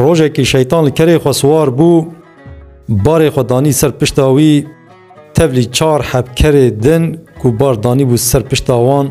Rojekî şeytan li kerê xwe siwar bû, barê xwe danî ser pişta wî, tevlî çar heb kerê din ku bar danîbû ser pişta wan,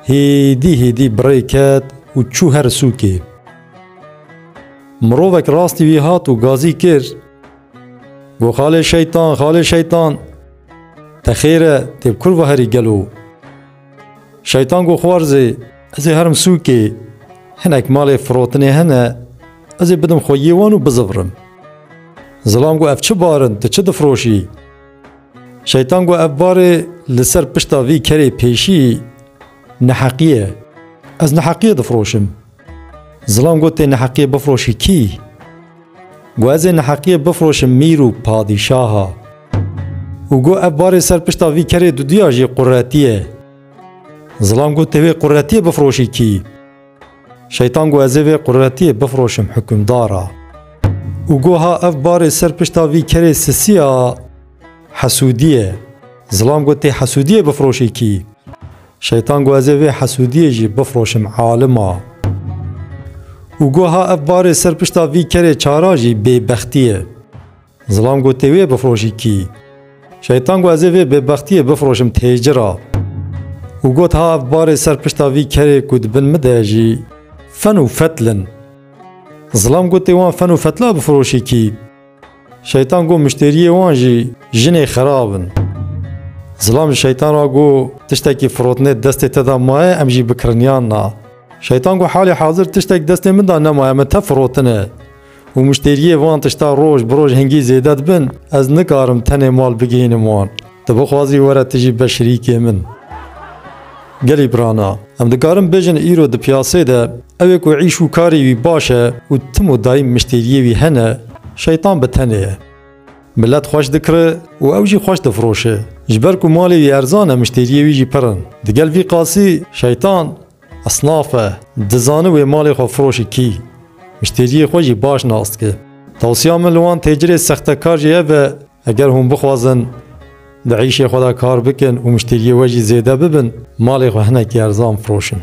hêdî hêdî bi rê ket û çû her sûkê. Mirovek rastî wî hat û gazî kir, Got xalê şeytan, xalê şeytan, te xêr e, tê bi kurva herî gelo. Şeytan got xwarzê, ez ê herim sûkê, hinek malê firotinê hene, ez ê bidim xwe yê wan û bizivrim. Zilam got ev çi bar in, tu çi difiroşî? Şeytan got ev barê li ser pişta vî kerê pêşî neheqî ye. Ez neheqiyê difiroşim. Zilam got tê neheqiyê bifiroşî kî? Gu ez ê neheqiyê bifroşim mîr û padîşaha. Û gu ev barê ser pişta vî kerê duduya jî quretiyê. Zilam gu tê wê quretiyê bifroşî kî? Şeytan gu ez ê vê quretiyê bifroşim hukimdara. Û gu ha ev barê ser pişta vî kerê sisiya hesudiyê. Zilam gu tê hesudiyê bifroşî kî? Şeytan got ez ê vê hesûdiyê jî bifroşim alima. Û got ha ev barê ser pişta vî kerê çara jî bêbextî ye. Zilam got tê wê bifroşî kî? Şeytan got ez ê vê bêbextiyê bifroşim têcira. Û got ha ev barê ser pişta vî kerê ku di bin min de jî fen û fetl in. Zilam got tê wan fen û fetla bifroşî kî? Şeytan got müşteriyê wan jî jinê xerab in. Zilam ji şeytan re got tiştekî firotine destê te de maye em jî bikiriniyan na. Şeytan got halê hazir tiştek destê min de nemaye min te firotine û müşteriyê van tişta roj bi roj hingî zêde dibin ez nikarim tenê mal bigihînim wan. Tu bixwazî were tu jî be şirîkê min. Gelî pirana. Em dikarin bêjin îro di piyasê de ew ê ku îş û karî wî baş e û tim û dayîm miştêriyê wî hene, şeytan bi tenê ye. Milet xweş dikiri û ew jî xweş difroşe. Ji ber ku malê wî erzan e miştêriyê wî jî pir in. Digel vî qasî şeytan esnaf e. Dizane wê malê xwe firoşi kî. Miştêriyê xwe jî baş nas dike. Tewsiya min li wan têcirê sextekar jî ev e, Eger hûn bixwazin di êşê xwe de kar bikin û muşteriyê we jî zêde bibin, malê xwe hinekî erzan firoşin.